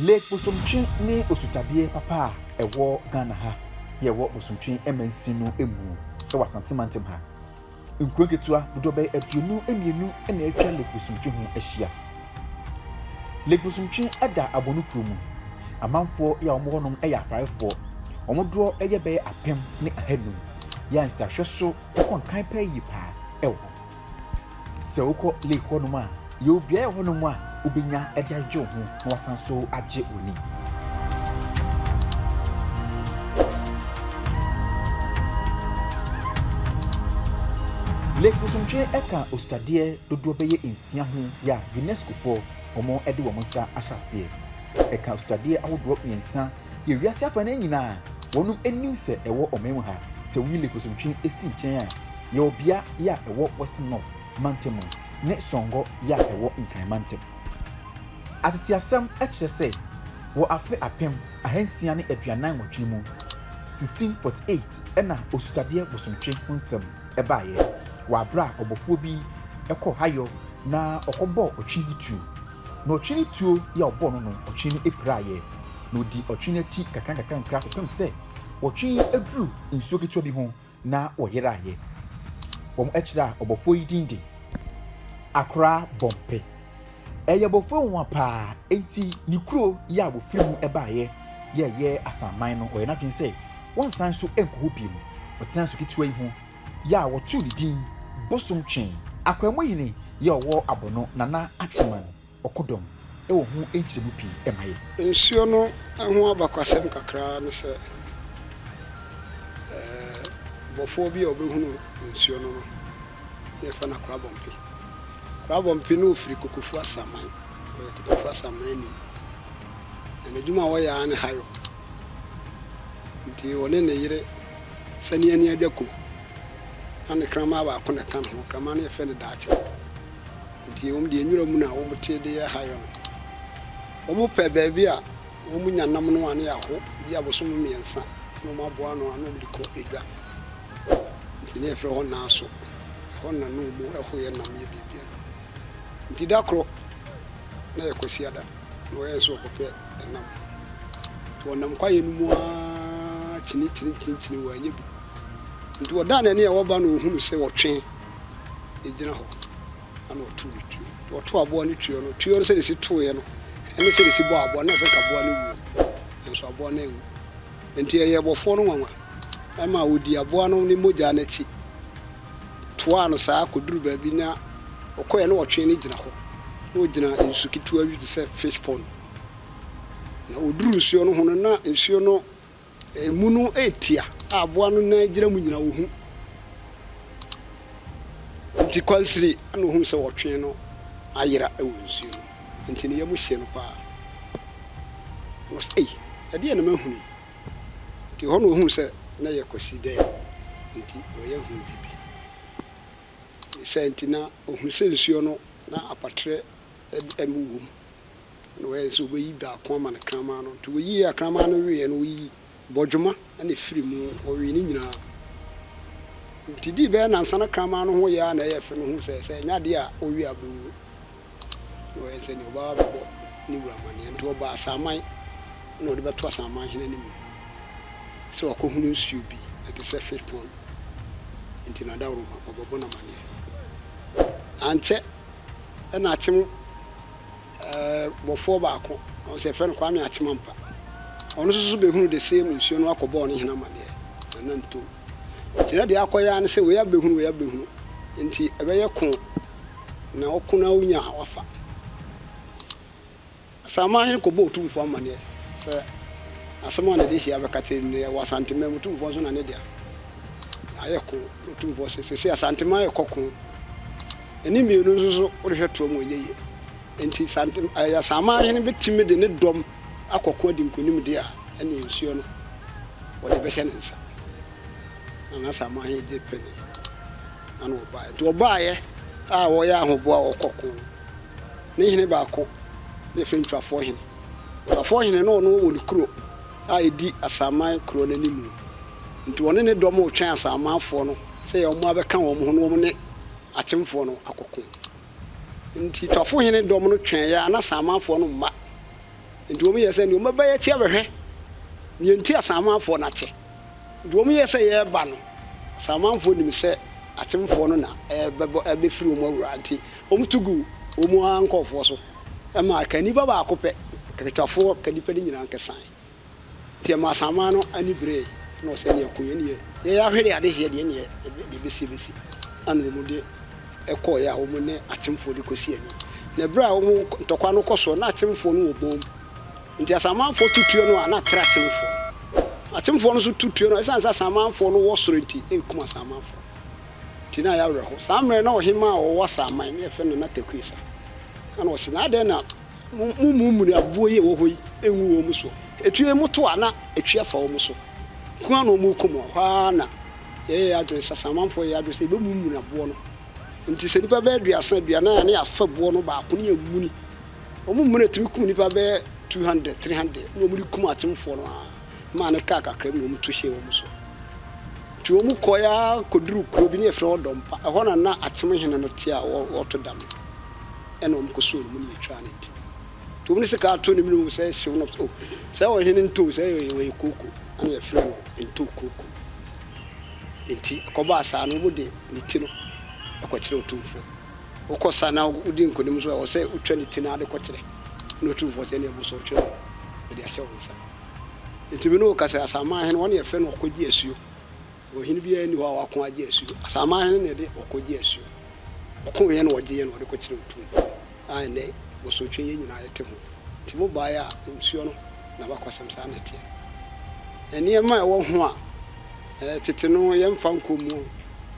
Lake Bosomtwe ne osutadeɛ papa a ɛwɔ Ghana ha yɛ ɛwɔ Bosomtwe Mansin no mu wɔ Asante Mantam ha. Nkuro nketewa dodoɔ bɛyɛ aduonu mmienu na atwa Lake Bosomtwe ho ahyia. Lake Bosomtwe da Abono kuro mu. Amanfoɔ yɛ a wɔwɔ hɔ nom yɛ Afaarefoɔ. Wɔn doɔ yɛ bɛyɛ apem ne ahanum. Yɛ a nsrahwɛ so kɔnkan paa yie paa wɔ hɔ. Sɛ wokɔ lake hɔnom a, yɛ obiara yɛ hɔnom a wobɛnya de adwodwo wo ho na wasan so agye w'ani. Lake Bosontwe ka osutadeɛ dodoɔ bɛyɛ nsia ho yɛ a UNESCOfoɔ wɔn de wɔn nsa ahyɛ aseɛ. Ɛka osutadeɛ ahodoɔ mmiɛnsa yɛ wiase afa no nyinaa wɔn anim sɛ ɛwɔ ɔman mu ha. Sɛ woyi Lake Bosontwe si nkyɛn a, yɛ ɔbea yi a ɛwɔ Western North mantam mu ne Songor yi a ɛwɔ Nkran mantam. Ateteasɛm kyerɛ sɛ wɔ afe apem ahansia ne aduanan nwɔtwe mu, 1648, na Osutadeɛ Bosomtwe ho nsɛm baeɛ wɔ aberɛ a ɔbɔfoɔ bi kɔɔ Hayɔ na ɔkɔbɔɔ ɔtwe bi tuo. Na ɔtwe no tuo yi a ɔbɔɔ no no, ɔtwe no piraeɛ. Na ɔdii ɔtwe no akyi nkakrankakra kɔpem sɛ ɔtwe aduru nsuo ketewa bi ho Na wɔyeraeɛ. Wɔn akyire a ɔbɔfoɔ yi din de Akora Bɔmpe. Ɛyɛ ɔbɔfoɔ nwonwa paa enti ne kuro yɛ a wɔfiri mu baeɛ yɛ ɛyɛ Asanman no ɔyɛ n'adwene sɛ wɔnsan so nkɔ hɔ bio. Ɔtenaa su ketewa yi ho yɛ a wɔtoo ne din Bosom Twe. Akwaamuhene yɛ ɔwɔ Abono, Nana Akyeman. ɔkodɔm wɔ ho nkyerɛmu pii ma yɛn. Nsuo no ho abakwasɛm kakra ara ne sɛ, bɔfoɔ bi a ɔbɛhunu nsuo no no, na yɛfrɛ no Akorabɔmpe. Akorabɔmpe no ɔfiri Kokofu Asaman, ɔyɛ Kokofu Asamanni, na n'adwuma a ɔyɛ ara ne hayo. Nti ɔne ne yere Saniani Adwako na ne kraman baako na ɛka ne ho, kraman no yɛfrɛ no Daakye. Enti wɔn deɛ nwura mu na wɔn te de yɛ hayo no. Wɔn pɛ baabi a wɔn nya nam no a ne yɛ ho bi a bosom mmiɛnsa na wɔn aboa ano a na wɔn de kɔ edwa. Enti ne yɛ frɛ hɔ Naaso. Ɛhɔ na na wɔn ɛho yɛ nam yɛ biribiara. Enti da korɔ na yɛ Kwasiada na ɔyɛ nso ɔkɔpɛ ɛnam. Enti ɔnam kwaeɛ no mu ara kyini kyini kyini kyini wɔ anya bi. Enti ɔdaa n'ani a ɔba na ɔhunu sɛ ɔtwe. gyina hɔ na ɔtow ne tuo. Ɔtow aboa no tuo no, tuo no sɛdeɛ ɛsi toeɛ no ne sɛdeɛ ɛsi bɔɔ aboa no, na ɛsɛ nka aboa no wuo, nanso aboa no anwu. Enti ɛyɛɛ bɔfoɔ no nwanwa ma ɔdii aboa no ne mogya no akyi toaa no saa kɔduruu baabi, na ɔkɔeɛ na ɔtwee no gyina hɔ. Na ɔgyina nsu ketewa bi te sɛ fish pond. Na ɔduruu nsuo no ho no, na nsuo no Emu no yɛ tia a aboa no nan gyina mu nyinaa ohu nti kwansiri na ohunu sɛ ɔtwe no ayera wɔ nsuo no mu nti ne yam hye no paa na ɔse ei ɛdeɛn na mahunu yi nti hɔ na ohunu sɛ na ɛyɛ Kwasi dɛm nti ɔyɛ hu bibi ne saa nti na ohunu sɛ nsuo no na apaterɛ wɔ mu. na wɔayɛ sɛ wɔbɛyi baako ama no kraman no. Nti wɔyii akraman no weeɛ no, wɔyii bɔdwoma na ɛfirii mu, wɔwee ne nyinaa. Nti dii bɛyɛ nnansa na kraman no ho yɛɛ ara na ɛyɛ fɛ no huu sɛ, sɛ ɛnyɛ adeɛ a ɔwie a ɔbɛwuo. Na wɔyɛ sɛ deɛ ɔbɛba abɛbɔ ne wura amaneɛ. Nti ɔbɔɔ asaman na ɔde bɛto asaman hene no mu sɛ wakɔhunu nsuo bi, ɛte sɛ fish pond, nti n'adaworoma, ɔbɛbɔ no amaneɛ. Ankyɛ na akyem bɔfoɔ baako ɔsɛ yɛfrɛ no Kwame Akyemampa ɔno nso so bɛhunu the same nsuo no akɔ bɔɔ ne hene amaneɛ na na ntom nti na deɛ akɔ yɛ ne sɛ wei abɛhunu wei abɛhunu nti ɛbɛyɛ ko na ɔko na wonya a wafa Asaman hene kɔbɔ otumfoɔ amaneɛ sɛ asɛm a na de hyia bɛka kyerɛ no yɛ wɔ Asanteman mu otumfoɔ nso na ne dea ayɛ ko na otumfoɔ sɛ sɛ sɛ Asanteman yɛ kɔ ko ne mmienu nso so worehwɛ toɔ mu a ɛnyɛ yie. Enti sɛ ante ɛɛ Asaman hene bɛtumi de ne dɔm akɔko adi nkonim deɛ a, ɛnneɛ nsuo no wɔde bɛhyɛ ne nsa. Na n'Asaman hene gye penee na na ɔbaeɛ. Nti ɔbaeɛ a ɔyɛ ahoboa a ɔkɔ ko no, ne hene baako na yɛfrɛ no Ntwafoɔ hene. Ntwafoɔ hene na ɔno wɔ ne kuro a ɛdi Asaman kuro no animu. Nti ɔne ne dɔm retwɛn Asamanfoɔ no sɛ yɛ wɔn abɛka wɔn ho na wɔn ne akyemfoɔ no akɔko. Nti Tɔfohene dɔm no twɛɛeɛ a na Saamafoɔ no mma. Nti wɔn yɛɛ sɛ neɛ wɔn bɛbɛyɛ akyi abɛhwɛ neɛ nti a Saamafoɔ no akyɛ. Nti wɔn yɛɛ sɛ yɛɛba no, Saamafoɔ nim sɛ akyemfoɔ no na ɛɛbɛbɔ ɛɛbɛfiri wɔn awura nti wɔn to guu wɔn ara nkɔɔfoɔ so ma ka nnipa baako pɛ, ka Twafoɔ, ka nnipa no nyinaa nkesaeɛ. Ntsi ma asanman no ani beree, nna ɔsɛ nna yɛko hɛn yie. Yɛyɛ ahwɛdɛ a adehyeɛ deɛ nneɛ yɛbɛ deɛ ɛbɛsi ɛbɛsi ɛna wɔn de ɛkɔɔeɛ a wɔn ne atemfoɔ de kɔsi ani. Na ɛberɛ a wɔn ntɔkwa no kɔ soɔ na atemfoɔ no wɔ bɔn mu nti asanmanfoɔ tu tuo no a na atra atemfoɔ no. Atemfoɔ no nso tu tuo no a ɛsiane sɛ asanmanfoɔ no wɔ soro nti na ɛkum asanmanfoɔ no nti na ayɛ awerɛho. Saa mmerɛ no na ɔhemaa a ɔwɔ asanman na yɛfrɛ no Nana Takuesa ɛna ɔse na adɛn na Mommummuni aboɔ yi a ɛwɔ hɔ yi ngu wɔn soɔ. Ɛtue yi moto a, na ɛtwe afa wɔn so nko ara na wɔrekum wɔn. Ɛhɔ ara na yɛyɛɛ yɛn adwene, Sasamanfoɔ yɛɛ yɛn adwene sɛ yɛbɛmummuni aboɔ no. Enti sɛ nnipa bɛyɛ aduasa, aduanan a, na yɛafa boɔ no baako na yɛamuni. Wɔmuni na ɛtumi kum nnipa bɛyɛ 200, 300 na wɔde kum atemfoɔ no ara maa no kaa kakra bi na wɔto hyɛɛ wɔn so. Enti wɔkɔeɛ ara kɔduruu kuro bi na yɛfrɛ hɔ Dɔmpa. Ɛhɔ na na atem hene no te a ɔreto dame. ɛna wɔn kɔ soo ne mu ne yɛtwaa ne ntini nti wɔn de sika ato ne mene o sɛ hyew no o sɛ ɔhene ntoo sɛ ɔyɛ kooko ɛna yɛfrɛ no ntoo kooko nti ɛkɔbɔ asaa no wɔn de ne ti no ɛkɔkyerɛ otumfoɔ wokɔ sa na wodi nkonim nso ɛwɔ sɛ wotwa ne ti no ade kɔkyerɛ na otumfoɔ sɛ ne ɛbɔ sɛ ɔtwerɛ no mede ahyɛ wɔn nsa nti mene o kasɛ asaman hene wɔn yɛfrɛ no ɔkɔgye asuo Ɔhene biara nni hɔ a wako agye asuo. Asaman hene na ɛde ɔko gye asuo. Ɔko yɛ na ɔgye yɛ na ɔde kɔkyerɛ otum a ɛnɛ bosonhwɛ yɛ nyinaa yɛte ho. Nti mo baeɛ a nsuo no na mo akɔsɛm saa na ɛteɛ. Nneɛma a ɛwɔ ho a ɛɛ tete no yɛ mfa nkɔ mu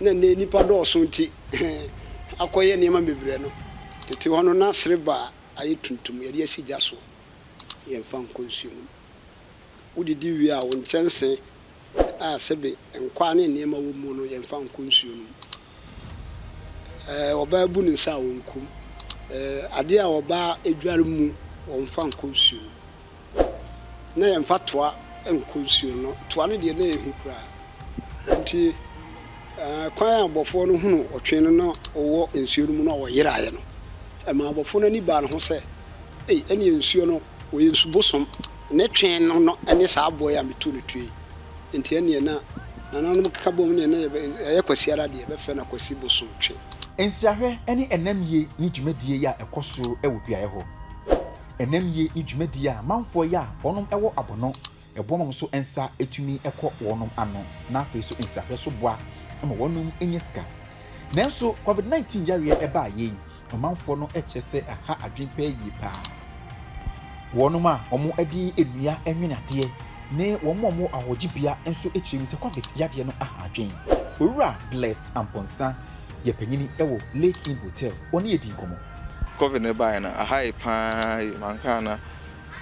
na ɛnɛ nnipa dɔɔso nti akɔ yɛ nneɛma bebrɛ no. Tete hɔ no na sereba a ayɛ tuntum yɛde asi gya so yɛ mfa nkɔ nsuo no mu. Wo didi wie a wo nkyɛnsee. a sɛbe nkwaa ne nneɛma wɔ mu no yɛmfa nkɔ nsuo no mu. Ɔbaa bu ne nsa a ɔnkɔ mu. Adeɛ a ɔbaa adware mu wɔmfa nkɔ nsuo no mu. Na yɛmfa toa nkɔ nsuo no. Toa no deɛ na ɛyɛ hu koraa. Nti kwan a abɔfoɔ no hunu ɔtwe no na ɔwɔ nsuo no mu na ɔyeraeɛ no, ɛmaa abɔfoɔ no ani baa ne ho sɛ, Ei, ɛnneɛ nsuo no, ɔyɛ nsu bosom. Ne twe no no ne saa aboa yi a metuu no tue yi nti ɛneɛ na nananom keka bom neɛ na yɛyɛ kwasiara deɛ bɛfrɛ no akwasi bosom twe. Nsrahwɛ ne nnamyie ne dwumadie yi a ɛkɔ so wɔ beaeɛ hɔ. Nnamyie ne dwumadie a manfoɔ yi a wɔnom wɔ abɔnɔ ɛboɔ ma mo so nsa tumi kɔ wɔnom ano na afei so nsrahwɛ so boa ma wɔnom nya sika. Nanso covid 19 yareɛ baa yei ɔmanfoɔ no kyerɛ sɛ aha adwene pɛɛ yie paa. Wɔnom a wɔn ɛde nnua nwene adeɛ ne wɔn a wɔn ahɔgye bea nso kyerɛ mu sɛ covid yadeɛ no aha adwene. Owura Blessed Amponsah yɛ panyini wɔ Lake Inn Hotel, ɔne yɛ di nkɔmmɔ. Covid no baeɛ no aha yɛ paa, mankaa na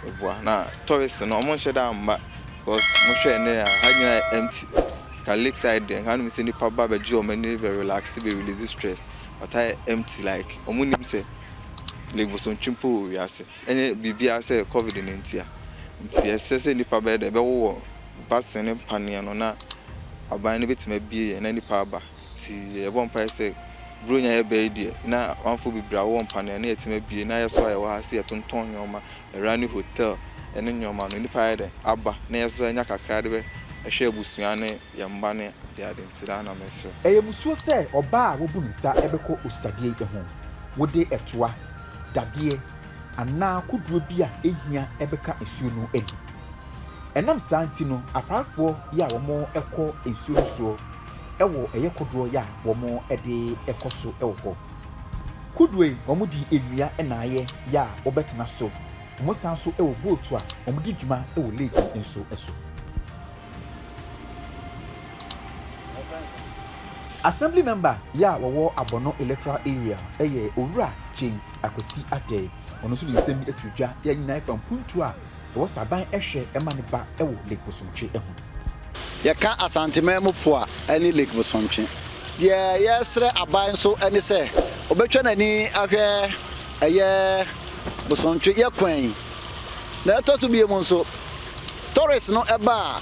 ɛboa na tourist no wɔnhyɛ da mma because mohwɛ a nnɛ ha nyinaa yɛ empty nka lake side deɛ nka wonnim sɛ nnipa ba bɛgye wɔn ani bɛ relax bɛ release stress but ha yɛ empty like wɔn nnim sɛ Lake Bosontwi mpo wɔ wiase ɛnyɛ biribiara sɛ covid no nti a nti ɛsɛ sɛ nnipa bɛyɛ dɛ bɛwowɔ basin ne mpaneɛ no na aban no bɛtumi abie yɛ na nnipa aba Nti yɛbɔ mpaeɛ sɛ Buronya yɛbaa yi deɛ na amanfoɔ bebree a wɔwɔ mpaneɛ no yɛtumi abue na yɛso a yɛwɔ ha sɛ yɛtontɔn nnoɔma ɛra ne hotel ɛne nnoɔma no nnipa ayɛ dɛn aba na yɛso anya kakra de bɛhwɛ abusua ne yɛn mma ne adeade nti daa na mesrɛ. Ɛyɛ musuo sɛ ɔbaa a wabu ne nsa bɛkɔ osutadeɛ yi ho. Wode ɛtoa, dadeɛ, anaa kodoɔ bi a ɛhia bɛka nsuo no ani. Ɛnam saa nti no, afaafoɔ yi a wɔkɔ nsuo no soɔ wɔ ɛyɛ kodoɔ yɛ a wɔn de kɔ so wɔ hɔ. Kodoɔ yi wɔn de nnua na ayɛ yɛ a wɔbɛtena so. Wɔn san so wɔ boat a wɔn de dwuma wɔ lake yi nso so. Assembly member yɛ a wɔwɔ Abono electoral area yɛ Owura James Akwasi Adei. Ɔno nso ne nsɛm bi to dwa yɛ a nyinaa fa mpuntuo a Ɛwɔ sɛ aban hwɛ ma ne ba wɔ Lake Bosontwe ho. Yɛka Asanteman mu po a ɛne Lake Bosontwe. Deɛ yɛresrɛ aban nso ne sɛ ɔbɛtwa n'ani ahwɛ ɛyɛ Bosontwe yɛ kwan yi. Na ɛtɔ so bio mu nso, tourists no ba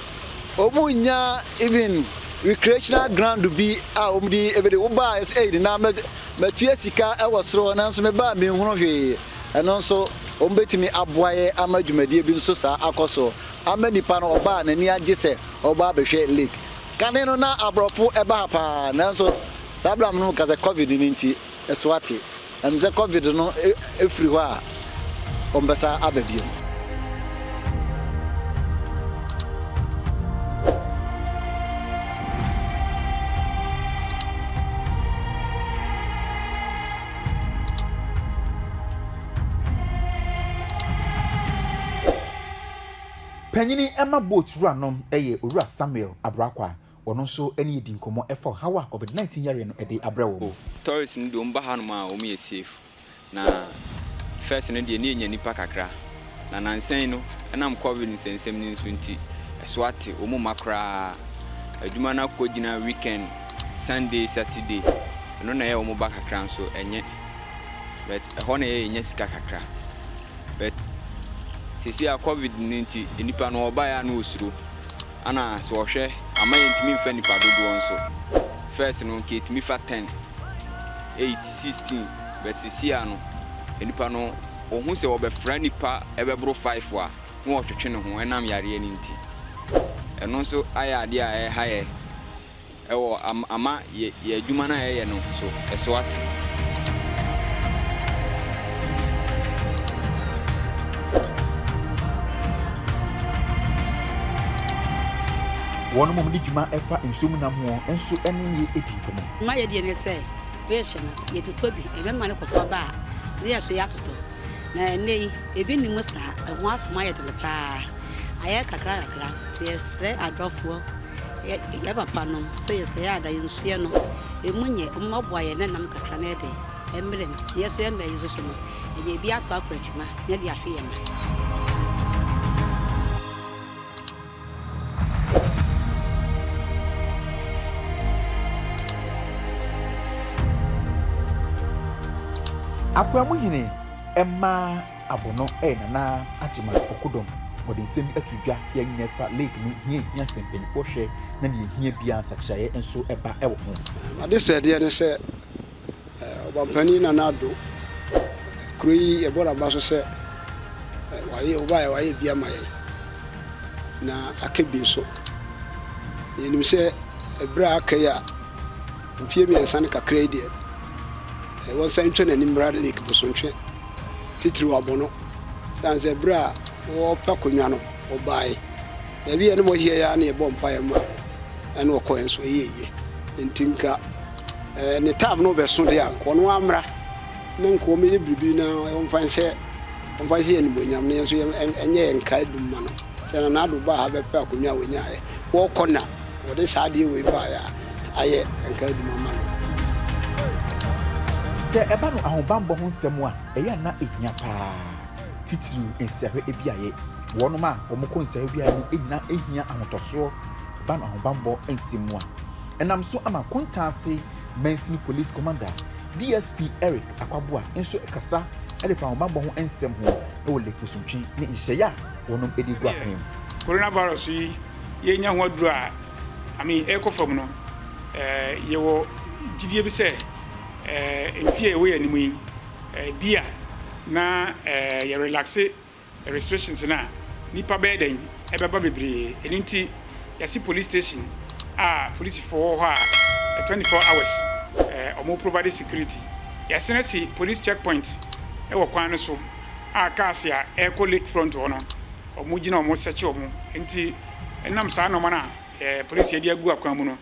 a, wɔn nnya even recreational ground bi a wɔn de bɛdi. Wo ba a yɛsɛ ei nena mɛtua sika wɔ soro hɔ nanso me ba a menhunu hwee. Ɛno nso, wɔbɛtumi aboa yɛn ama dwumadie bi nso saa akɔ so ama nipa no ɔba a n'ani agye sɛ ɔbɛba abɛhwɛ Lake. Kane no na aborɔfo ba ha paa nanso saa berɛ a me ne mo kasa yi covid no nti ɛso ate. Ɛwom sɛ covid no firi hɔ a wɔbɛsan aba bio. Panyini ɛma boat wura nom ɛyɛ Owura Samuel Abrakwa, wɔno nso ɛne yɛ di nkɔmɔ ɛfa ɔhaw a Covid 19 yareɛ no ɛde abrɛ wɔn. Tourist no deɛ wɔn ba hanom a wɔn yɛ safe na first no deɛ na yɛnya nipa kakra. Na nnansa yi no, ɛnam Covid nsɛnsɛm no nso nti, ɛso ate, wɔn mma koraa. Adwuma no akɔgyina weekend, Sunday, Saturday, ɛno na ɛyɛ wɔn ba kakra nso ɛnyɛ. But ɛhɔ na ɛyɛ yɛnya sika kakra. But seesei a Covid no nti, nnipa no wɔbaeɛ a na wɔsuro. Ɛna sɛ wɔhwɛ ama yɛntumi mfa nnipa dodoɔ nso. First no nka yɛtumi fa ten, eight, sixteen, but seesei a no, nnipa no. Ohu sɛ wɔbɛfra nnipa bɛboro faefo a, na ɔtwetwe ne ho ɛnam yareɛ no nti. Ɛno nso ayɛ adeɛ a ɛreha yɛ wɔ ama yɛ yɛ adwuma no a yɛyɛ no so ɛso ate. Wɔn a wɔde dwuma fa nsuo mu nam ho nso ne me dii nkɔmmɔ. Mayɛ deɛ ne sɛ. Beehyɛ no, yɛtotɔ bi. Yɛbɛma no kɔfa ba a, na yɛasoɛ atotɔ. Na ɛnnɛ yi, ebi nni mu saa. Ɛho asɛm ayɛ den pa ara. Ayɛ kakrakakra. Nti yɛsrɛ adɔfoɔ, yɛn papanom sɛ yɛsrɛ yɛn a, da yɛn nsuɛ no mu nyɛ. Wɔmmɔboa yɛn na nam kakra no de mmrɛ mu. Na yɛsoɛ mmerɛ yi nso no, yɛnya bi atɔ akɔ akyima na yɛde ahwe yɛn mma. Akoamu hene mmaa abono ɛyɛ Nana Agyema Ɔkodɔm wɔde nsɛm ato dwa yɛ nyɛ fa lake no hia hia sɛ mpanyinfoɔ hwɛ na nea ɛhia biara nsakyeraeɛ nso ɛba ɛwɔ ho. Adesrɛdeɛ ne sɛ Ɔbampanin Nana Addo, kuro yi yɛbɔ n'aba so sɛ wayɛ ɔbaeɛ wayɛ bi ama yɛn na aka bi nso. Yɛnim sɛ ɛberɛ a aka yi a mfie mmiɛnsa ne kakra yi deɛ ɛwɔ nsa ntwa n'anim mmra Lake Bosontwe titiriw Abono sane sɛ ɛberɛ a wɔpɛ akonnwa no ɔbaeɛ. Baabi a na wɔyɛ ara na yɛbɔ mpaeɛ ma no ɛna ɔkɔɛ nso ɛyɛ yie nti nka ɛɛ ne taab no bɛso deɛ a nka ɔno amra na nka wɔyɛ biribi na wɔmfa nhyɛ wɔmfa nhyɛ yɛn animuonyam na yɛn nso ɛnyɛ yɛn nkae dum ma no sɛ na n'ado baa ha bɛpɛ akonnwa a wɔnyaeɛ wɔkɔ na wɔde saa adeɛ wei baeɛ a ayɛ nkae dum ama no. Sɛ ɛba no ahobammɔ ho nsɛm a ɛyɛ a na ɛhia paa titiriw nsrahwɛ biaeɛ. wɔnom a wɔn kɔ nsaeɛ biara mu nyina hia ahotɔsoɔ ban ahobanbɔ nsɛm mu a ɛnam so ama Kontaase Mansini Police Commander DSP Eric Akwaboa nso kasa de fa ahobanbɔ ho nsɛm ho wɔ Lake Bosontwe ne nhyehyɛeɛ a wɔnom de agu akwan mu. Corona virus yi yɛnya ho aduru a I mean ɛkɔ fam no eh, yɛwɔ gyidie bi sɛ eh, mfie a ɛwɔ yɛn anim yi eh, bi a na eh, yɛrelaxe restrictions no a nipa bɛyɛ dɛn ɛbɛba bebree ɛno nti yɛsi police station a polisifo wɔ hɔ a 24 hours ɛɛ wɔn provide security yɛasen asi police check point ɛwɔ kwan no so a cars a ɛrekɔ lake front hɔ no wɔn gyina wɔn sɛkye wɔn nti ɛnam saa nneɛma no a ɛɛ polisi ɛde agu akwan mu no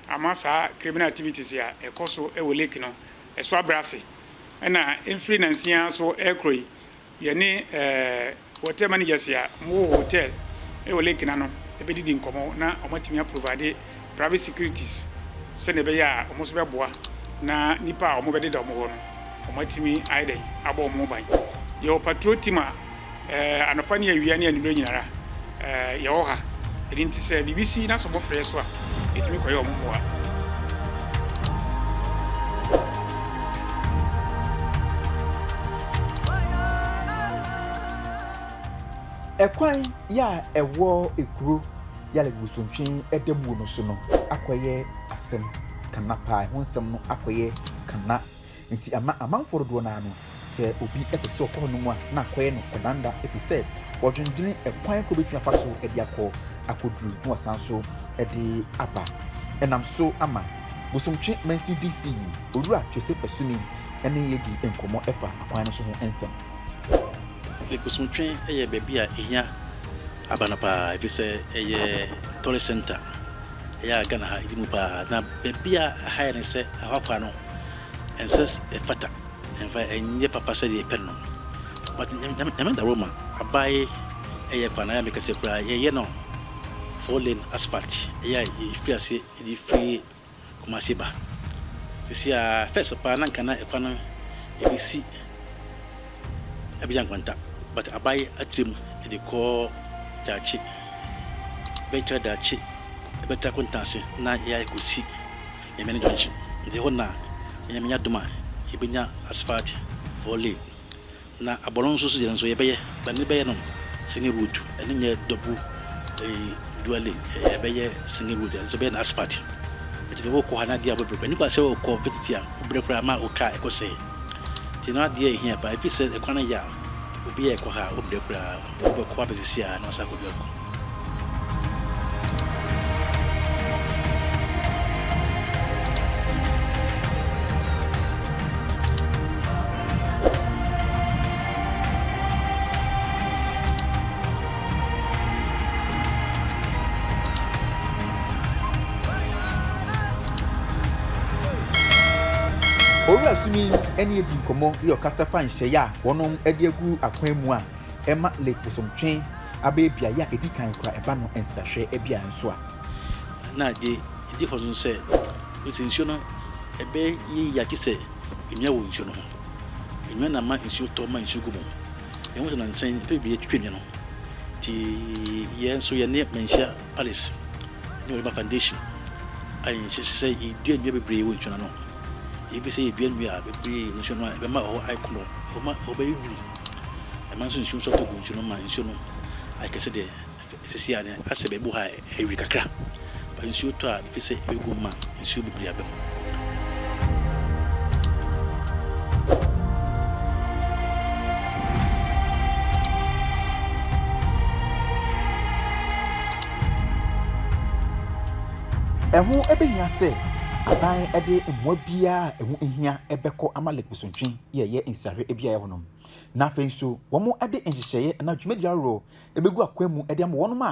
ama saa criminal activities a ɛkɔ so ɛwɔ lake no ɛso abrɛ ase ɛna mfiri nansia so ɛrekɔ yi. Yɛne hotel managers a wɔwɔ hotel wɔ lake no ano bɛdidi nkɔmmɔ na wɔatumi a provide private securities sɛnea ɛbɛyɛ a wɔn nso bɛboa na nnipa a wɔbɛdeda wɔn hɔ no, wɔatumi ayɛ dɛn abɔ wɔn ho ban. Yɛwɔ patrol team a anɔpa ne awia ne anwummere nyinara Ɛɛ, yɛwɔ ha. Ɛno nti sɛ biribi si na sɛ wɔfrɛ yɛn nso a, yɛtumi kɔyɛ wɔn mmoa. Ɛkwan yɛ a ɛwɔ ekuro yale bosontwe ɛdamuo no so no akɔyɛ asɛm kana paa, ɛho nsɛm no akɔyɛ kana. Enti ama amanfoɔ dodoɔ no ara no, sɛ obi pɛ sɛ ɔkɔ hɔnom a, na akɔyɛ no ɔdanda, ɛfiri sɛ wɔdwendwene ɛkwan koro a wɔbɛtumi afa so de akɔ akɔduru na wɔasan nso de aba. Ɛnam so ama bosomtwe mansin DC yi, Owura Twese Pasuni ne yɛn adi nkɔmmɔ fa akwan no so ho nsɛm. Bosomtwe yɛ baabi a ɛhia. Aba no paa efisɛ ɛyɛ tourist center ɛyɛ a Ghana ha ɛdi mu paa na baabi a ɛha yɛ ne sɛ ɛhɔ akwa no ɛnsɛ ɛfata ɛnfa ɛnyɛ papa sɛ deɛ ɛpɛ no but nyame da Roma abae ɛyɛ kwan ayɛ mekɛseɛ koraa yɛyɛ no four lane asphalt ɛyɛ a yɛfiri aseɛ ɛde firi Kumasi ba. Sisi a, first paa na nka na ɛkwan no yɛde si Abidjan nkwanta but abae akyire mu de kɔ daakye bɛtra daakye bɛtra Kuntanse na yɛayɛ kɔsi Nyamena junction nti hɔ na Nyame nya adom a yɛbɛnya asphalt four lane Na abɔno nso so deɛ no nso yɛbɛyɛ but ne bɛyɛ no single road ɛno nyɛ double ɛyi dual lane ɛyɛ ɛbɛyɛ single road ɛno nso bɛyɛ no asphalt ɛti sɛ wokɔ ha na adeɛ a wobɛbrɛ kora nipa sɛ wokɔ visit a wobrɛ kora ama wo car ɛkɔ sɛe ti no adeɛ ɛhia paa ɛfiri sɛ ɛkwan no yɛ a obi a ɛkɔ ha a wobrɛ koraa. Wobɛkɔ abɛ sisi a na wasan akɔdu akɔ. Owura Sumi ne adi nkɔmmɔ yɛ ɔkasa fa nhyɛeɛ a wɔn de agu akwan mu a ɛma Lake Bosomtwe abɛyɛ beaeɛ a ɛdi kan kura ɛba no nsrahwɛ bea nso a. Na deɛ ɛdi hɔ nso sɛ, wohu sɛ nsuo no ɛbɛyɛ yie agye sɛ nnua wɔ nsuo no ho. Nnua na ɛma nsuo tɔ ma nsuo gu mu. Yɛhu sɛ nansa yi, nnipa bebree atwitwa nnua no. Nti yɛn nso yɛne manhyia. Palace ne Oliver Foundation ayɛ nhyehyɛe sɛ yɛdua nnua bebree wɔ nsuo no ano. Yɛpɛ sɛ yɛdua nnua bebree wɔ nsuo no ano a ɛbɛma ɛhɔ ayɛ kono, ɛma ɛhɔ bɛyɛ nwunu. Ɛma nso nsuo nso atɔ gu nsuo no ma nsuo no ayɛ kɛse deɛ sisi a asɛ baabi wɔ hɔ a awi kakra. Nsuo tɔ a mepɛ sɛ ɛbɛgu mu ma nsuo bebree aba mu. Ɛho bɛhia sɛ aban de mmoa biara a ɛho hia bɛkɔ ama Lake Bosontwe yɛ ɛyɛ nsrahwɛ biara hɔ nom. Na afei nso wɔde nhyehyɛeɛ anaa dwumadie ahoroɔ bɛgu akwan mu de ama wɔn a